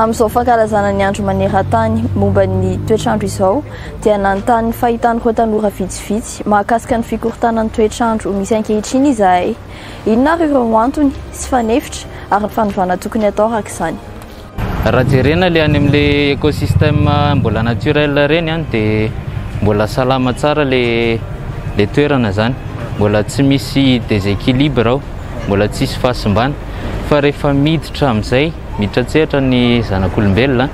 Amin'izao fankalazana ny andro maneran-tany momba ny toetr'andro izao dia nanontany fahitan'ireo tanora vitsivitsy mahakasika ny fikorontanan'ny toetr'andro misy ankehitriny izahay. Inona ary ireo antony sy fanefitra ary ny fanovana tokony hatao araka izany? Raha jerena le any amle ecosystème mbola naturel reny an de mbola salama tsara le le toerana zany mbola tsy misy deséquilibre ao mbola tsy hisy fahasimbana fa rehefa miditra amzay miditra an-tsehatra ny zanak'olombelona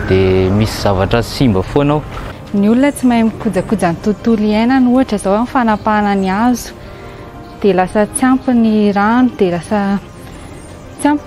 de misy zavatra simba foana ao. Ny olona tsy mahay mikojakoja ny tontolo iainany ohatra zao am fanapahana ny hazo de lasa tsy ampy ny rano de lasa tsy ampy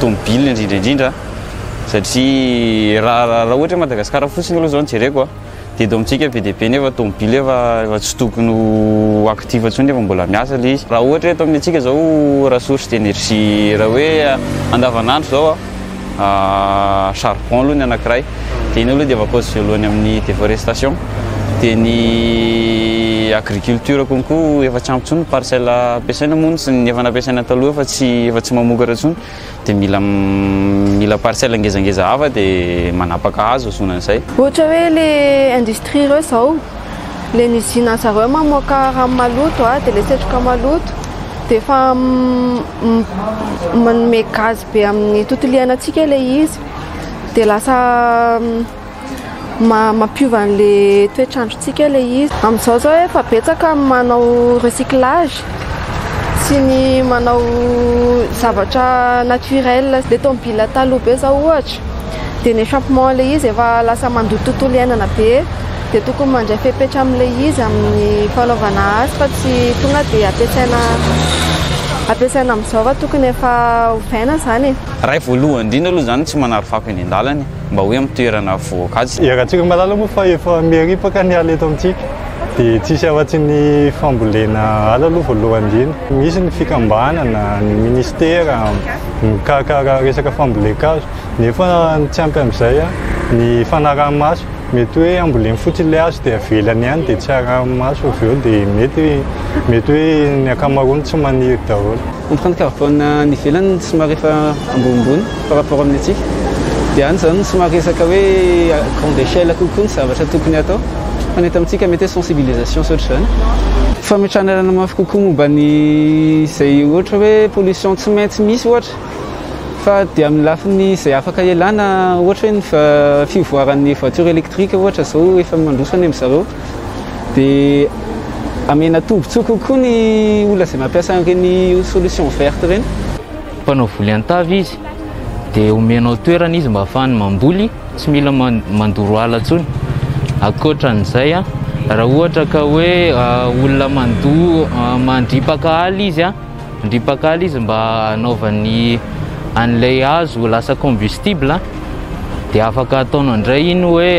tomobilina indrindra indrindra satria raha raha raha ohatra Madagasikara fotsiny aloha zao no jereko a dia eto amintsika be dia be nefa tomobilina efa efa tsy tokony ho actif intsony nefa mbola miasa ilay izy. Raha ohatra hoe eto amin'ny antsika izao raha source d'énergie raha hoe andavanandro izao a charbon aloha ny anankiray. Dia iny aloha dia vacances voalohany amin'ny déforestation. Dia ny agriculture konko efa tsy ampy intsony ny parcelle ampiasaina moa ny ny efa nampiasaina taloha efa tsy efa tsy mamokatra intsony dia mila mila parcelle ngezangeza hafa dia manapaka hazo azona an'izay. Ohatra hoe le industrie ireo izao, le ny usine anzareo mamoaka rano maloto a, dia le setroka maloto dia efa manome gaz be amin'ny tontolo iainantsika ilay izy. dia lasa mampiova an'le toetr'androntsika le izy. Amin'izao zao efa betsaka ny manao recyclage sy ny manao zavatra naturel. Le tomobila taloha be zao ohatra dia ny échappement le izy efa lasa mandoto tontolo iainana be dia tokony mandray fepetra amin'le izy amin'ny fanaovana azy fa tsy tonga dia ampiasaina ampiasaina amin'izao fa tokony efa ovaina zany e. Ray voalohany indrindra aloha izany tsy manary fako eny an-dalana e, mba hoe amin'ny toerana voakajy. Iarahantsika malala moa fa efa miharipaka ny ala eto amintsika dia tsisy afatsy ny fambolena ala aloha voalohany indrindra. Misy ny fikambanana, ny ministera mikarakara resaka fambolen-kazo nefa ny tsy ampy amin'izay ny fanaraha-maso. Mety hoe hamboleny fotsiny ilay hazo dia avelany ihany dia tsy arahi-maso avy eo dia mety mety hoe ny ankamaroany tsy maniry daholo. Empreinte carbone any ivelany somary efa ambonimbony par rapport amin'ny antsika. Dia any izany no somary resaka hoe à grande échelle kokoa ny zavatra tokony hatao. Fa ny eto amintsika mety hoe sensibilisation sy ohatr'izany. Fametrahana lalana mafy kokoa momba ny izay ohatra hoe pollution tsy maintsy misy ohatra. Fa dia amin'ny lafiny izay afaka ialana ohatra hoe ny fivoaran'ny voiture électrique ohatra izao efa mandroso any amin'izareo. dia amena tombotsoa kokoa ny olona izay mampiasa an'ireny solution verte ireny. Mpanao voly an-tavy izy dia omenao toerana izy mba hahafahany mamboly, tsy mila mandoro ala intsony. Ankoatran'izay, raha ohatra ka hoe olona mandoa, mandripaka ala izy, mandripaka ala izy mba hanaovany an'ilay hazo ho lasa combustible dia afaka ataonao indray iny hoe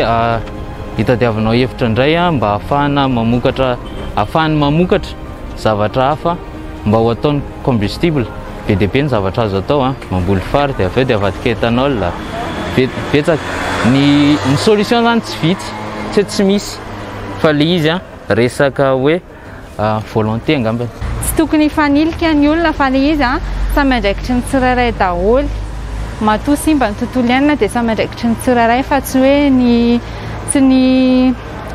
hitadiavanao hevitra indray mba hahafahana mamokatra hahafahany mamokatra zavatra hafa mba ho ataony combustible be dia be ny zavatra azo atao a mamboly fary dia avy eo dia avadika ethanol betsaka ny ny solution zany tsy vitsy tsy hoe tsy misy fa le izy a resaka hoe volonté angambany. Tsy tokony hifanilika ny olona fa le izy an, samy andraikitry ny tsirairay daholo. Matoa simba ny tontolo iainana dia samy andraikitry ny tsirairay fa tsy hoe ny tsy ny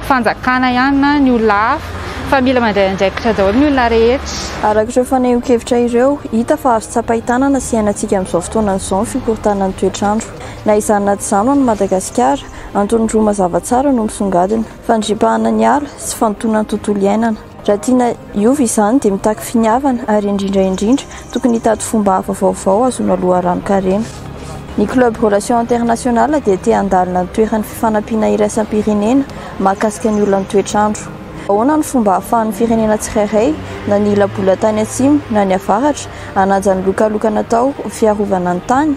fanjakana ihany na ny olona hafa fa mila mandray andraikitra daholo ny olona rehetra. Araka ireo fanehoan-kevitra ireo, hita fa azo tsapain-tanana sy iainantsika amin'izao fotoana izao ny fikorontanan'ny toetr'andro. Na izany na tsy izany ho an'i Madagasikara, antony roa mazava tsara no misongadina. fandripahana ny ala sy fandotoana ny tontolo iainana. Raha tiana hiova izany dia mitaky finiavana ary indrindra indrindra tokony hitady fomba hafa vaovao hahazoana loharanon-karena. Ny Club Relations Internationales dia te handalina ny toeran'ny fifanampiana iraisam-pirenena mahakasika ny olan'ny toetr'andro. Ahoana no fomba ahafahan'ny firenena tsirairay, na ny ila-bola tany atsimo na ny avaratra, hanaja ny lokalokana atao ho fiarovana ny tany?